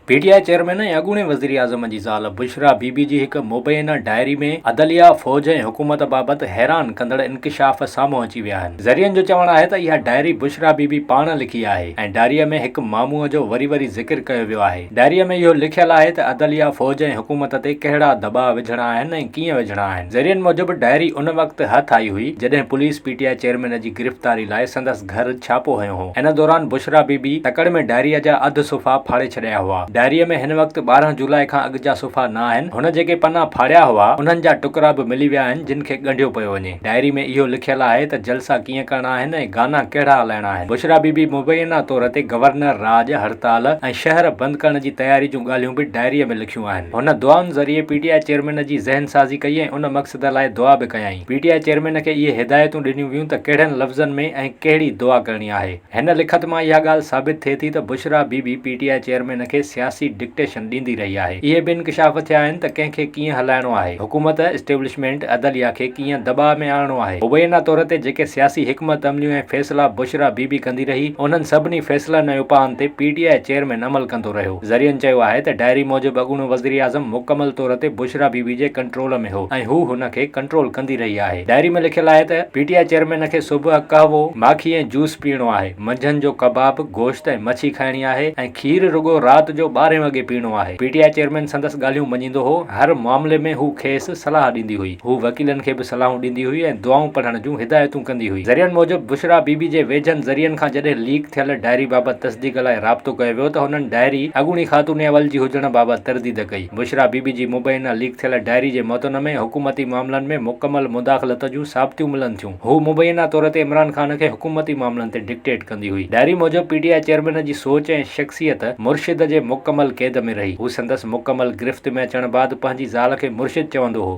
P T I chairman ۽ اڳوڻي وزيراعظم جي زال بشريٰ بي بي جي هڪ مبينه ڊائري ۾ عدليا، فوج ۽ حڪومت بابت حيران ڪندڙ انڪشاف سامهون اچي ويا آهن. ذريعن جو چوڻ آهي ته اها ڊائري بشريٰ بي بي پاڻ لکي آهي ۽ ڊائريء ۾ هڪ معموء جو وري وري ذڪر ڪيو ويو آهي. ڊائريء ۾ اهو لکيل آهي ته عدليا، فوج ۽ حڪومت تي ڪهڙا دٻاء وجهڻا آهن ۽ ڪيئن وجهڻا آهن. ذريعن موجب ڊائري ان وقت هٿ آئي هئي جڏهن police P T I chairman جي گرفتاري لاء سندس گهر ڇاپو هنيو هو. ان دوران بشريٰ بي بي تڪڙ ۾ ڊائريء جا اڌ صفحا ڦاڙي ڇڏيا هئا. ڊائريء ۾ هن وقت ٻارهن جولاء کان اڳ جا صفحا نه آهن. هن جيڪي پنا ڦاڙيا هئا، انهن جا ٽڪرا به ملي ويا آهن، جن کي ڳنڍيو پيو وڃي. ڊائري ۾ اهو لکيل آهي ته جلسا ڪيئن ڪرڻا آهن ۽ گانا ڪهڙا هلائڻا آهن. بشريٰ بي بي مبينا طور تي گورنر راڄ، هڙتال ۽ شهر بند ڪرڻ جي تياري جون ڳالهيون به ڊائريء ۾ لکيون آهن. هن دعائن ذريعي پي ٽي آء چيئرمين جي ذهن سازي ڪئي ۽ ان مقصد لاء دعا به ڪيائين. پي ٽي آء چيئرمين کي اهي هدايتون ڏنيون ويون ته ڪهڙن لفظن ۾ ۽ ڪهڙي دعا ڪرڻي آهي. هن لکت مان اها ڳالهه ثابت ٿئي ٿي ته Bushra Bibi P T I chairman کي سياسي ڊڪٽيشن ڏيندي رهي آهي. اهي به انڪشاف ٿيا آهن ته ڪنهن کي ڪيئن هلائڻو آهي، حڪومت، اسٽيبلشمينٽ، عدليه کي ڪيئن دٻاء ۾ آڻڻو آهي. مبينا طور تي جيڪي سياسي حڪمت عمليون ۽ فيصلا بشريٰ بي بي ڪندي رهي، انهن سڀني فيصلن ۽ اپائن تي پي ٽي آء چيئرمين عمل ڪندو رهيو. ذريعن چيو آهي ته ڊائري موجب اڳوڻو وزيراعظم مڪمل طور تي بشريٰ بي بي جي ڪنٽرول ۾ هو ۽ هو هن کي ڪنٽرول ڪندي رهي آهي. ڊائري ۾ لکيل آهي ته پي ٽي آء چيئرمين کي صبح قهوو، ماکي ۽ جوس پيئڻو آهي، منجهند جو ڪباب، گوشت ۽ مڇي کائڻي آهي ۽ کير رڳو رات جو ٻارهين وڳي پيئڻو آهي. پي ٽي آء چيئرمين سندس ڳالهيون مڃيندو هو، هر معاملي ۾ هو کيس صلاح ڏيندي هئي. هوء وڪيلن کي به صلاحون ڏيندي هئي ۽ دعائون پڙهڻ جون هدايتون ڪندي هئي. ذريعن موجب، بشريٰ بي بي جي ويجهن ذريعن کان جڏهن ليڪ ٿيل ڊائري بابت تصديق لاء رابطو ڪيو ويو ته هنن ڊائري اڳوڻي خاتون اول جي هجڻ بابت ترديد ڪئي. بشريٰ بي بي جي مبينا ليڪ ٿيل ڊائري جي متن ۾ حڪومتي معاملن ۾ مڪمل مداخلت جون ثابتيون ملن ٿيون. هوء مبينا طور تي عمران خان کي حڪومتي معاملن تي ڊڪٽيٽ ڪندي هئي. ڊائري موجب پي ٽي آء چيئرمين جي سوچ ۽ شخصيت مرشد جي مڪمل قيد ۾ رهي. هو سندس مڪمل گرفت ۾ اچڻ بعد پنهنجي زال کي مرشد چوندو هو.